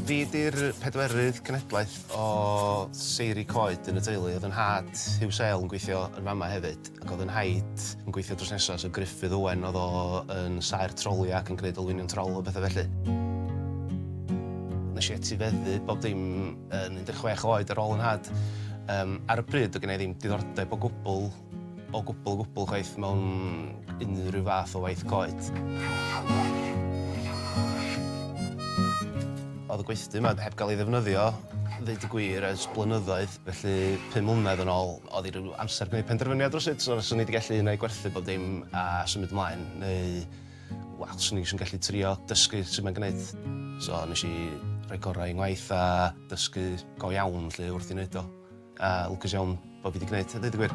Fi 'di'r pedwerydd cenedlaeth o seiri coed yn y teulu. Oedd 'yn nhad, Huw Sale, yn gweithio yn fama hefyd, ac oedd 'yn nhaid yn gweithio drws nesa, so Gruffydd Owen oedd o yn saer troli ac yn gneud olwynion trol a petha felly. Nesh i etifeddu bob dim yn 16 oed ar ôl yn nhad. Yym, ar y pryd, doedd gen i ddim diddordeb o gwbl, o gwbl, o gwbl chwaith mewn unrhyw fath o waith coed. Oedd y gweithdy 'ma heb gael ei ddefnyddio, ddeud y gwir, ers blynyddoedd, felly pum mlynedd yn ôl, oedd hi ryw amser gwneud penderfyniad rywsut, so fyswn i 'di gallu un ai gwerthu bob dim a symud ymlaen, neu, Wel, swn i jyst yn gallu trio dysgu sut mae'n gwneud. So nes i rhoi gorau i ngwaith a dysgu go iawn 'lly wrth i neud o. A lwcus iawn bo' fi 'di gneud a deud y gwir.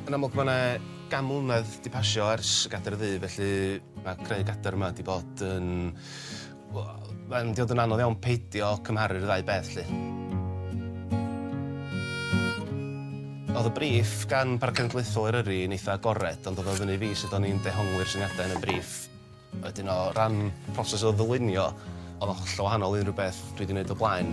Yn amlwg ma' 'na gan mlynedd 'di pasio ers y Gadair Ddu felly ma' creu Gadair yma 'di bod yn Mae'n mynd i fod yn anodd iawn peidio cymharu'r ddau beth 'lly. Oedd y briff gan Parc Cenedlaethol Eryri yn eitha' agored ond oedd o fyny i fi sut o'n i'n dehongli'r syniadau yn y briff. Wedyn o ran proses o ddylunio oedd o'n hollol wahanol i unrhyw beth dwi 'di neud o blaen.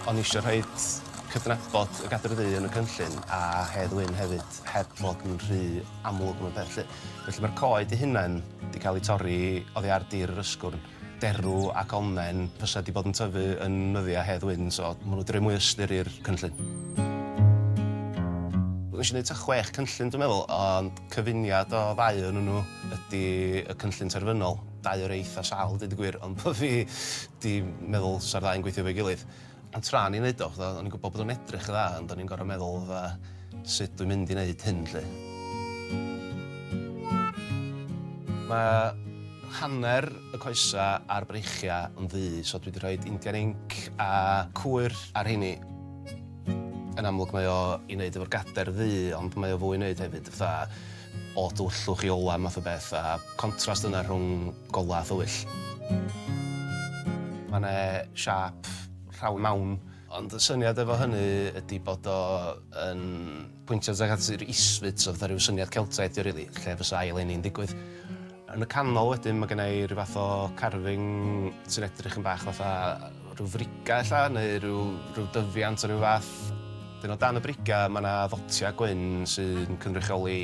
O'n i isio rhoid cydnabod y Gadair Ddu yn y cynllun a Hedd Wyn hefyd heb fod yn rhy amlwg mewn peth 'lly. Felly ma'r coed 'u hunain 'di ca'l 'u torri oddi ar dir yr ysgwrn. Derw ac onnen fysa 'di bod yn tyfu yn nyddia Hedd Wyn so ma' nw 'di roi mwy o ystyr i'r cynllun. Nesh i neud t'a chwech cynllun dwi'n meddwl ond cyfuniad o ddau o'nyn nw ydi y cynllun terfynol, dau o rei eitha sâl deud y gwir ond bo' fi 'di meddwl sa'r ddau'n gweithio efo'i gilydd. Ond tra o'n i'n neud o, fatha, o'n i'n gwbod bod o'n edrych yn dda, ond o'n i'n gor'o' meddwl fatha sut dwi'n mynd i neud hyn 'lly? Ma' hanner y coesa a'r breichia yn ddu, so dwi 'di rhoid Indian Ink a cwyr ar rheini. Yn amlwg mae o i neud efo'r gader ddu, ond mae o fwy i neud hefyd fatha o dywyllwch i ola math o beth, a contrast yna rhwng Golau a thwyll. Mae 'na siâp rhawn mawn. Ond y syniad efo hynny ydy bod o yn pwyntio tuag at yr isfyd, so fatha rhyw syniad Celtaidd 'di o rili, lle fysa ail eni'n digwydd. Yn y canol wedyn mae genna i ryw fath o carving sy'n edrych yn bach fatha rhyw friga' ella, neu ryw ryw dyfiant o ryw fath. Wedyn o dan y briga' mae 'na ddotiau gwyn sy'n cynrychioli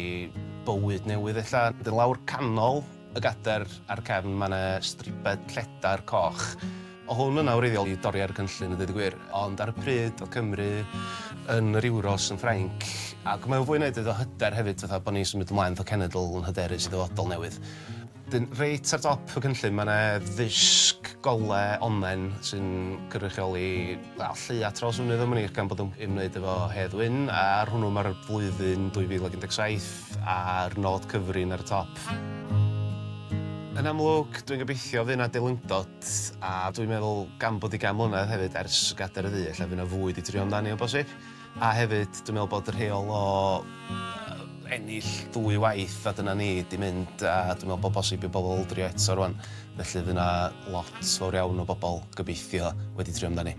bywyd newydd ella. Wedyn lawr canol Y gadair a'r cefn, mae 'na stribed lledar coch. O' hwn yna wreiddiol i dorri ar y cynllun a deud y gwir, ond ar y pryd o'dd Cymru yn yr Euros yn Ffrainc, ac mae o fwy na deud o hyder hefyd fatha bo' ni'n symud ymlaen fatha cenedl yn hyderus i ddyfodol newydd. Wedyn reit ar dop y cynllun mae 'na ddisg gole onnen sy'n cynrychioli, wel, lleia Trawsfynydd Dominica gan bod o'n ymwneud efo Hedd Wyn, a ar hwnnw ma'r flwyddyn 2017. a'r nod cyfrin ar y top. Yn amlwg, dwi'n gobeithio fydd 'na delundod, a dwi'n meddwl gan bod 'i gan mlynedd hefyd ers gadair y ddu ella fydd 'na fwy 'di trio amdani o bosib, a hefyd dwi'n meddwl bod y rheol o yy ennill dwy waith a dyna ni 'di mynd a dwi'n meddwl bod bosib i bobl drio eto rŵan, felly fydd 'na lot fawr iawn o bobl, gobeithio, wedi trio amdani.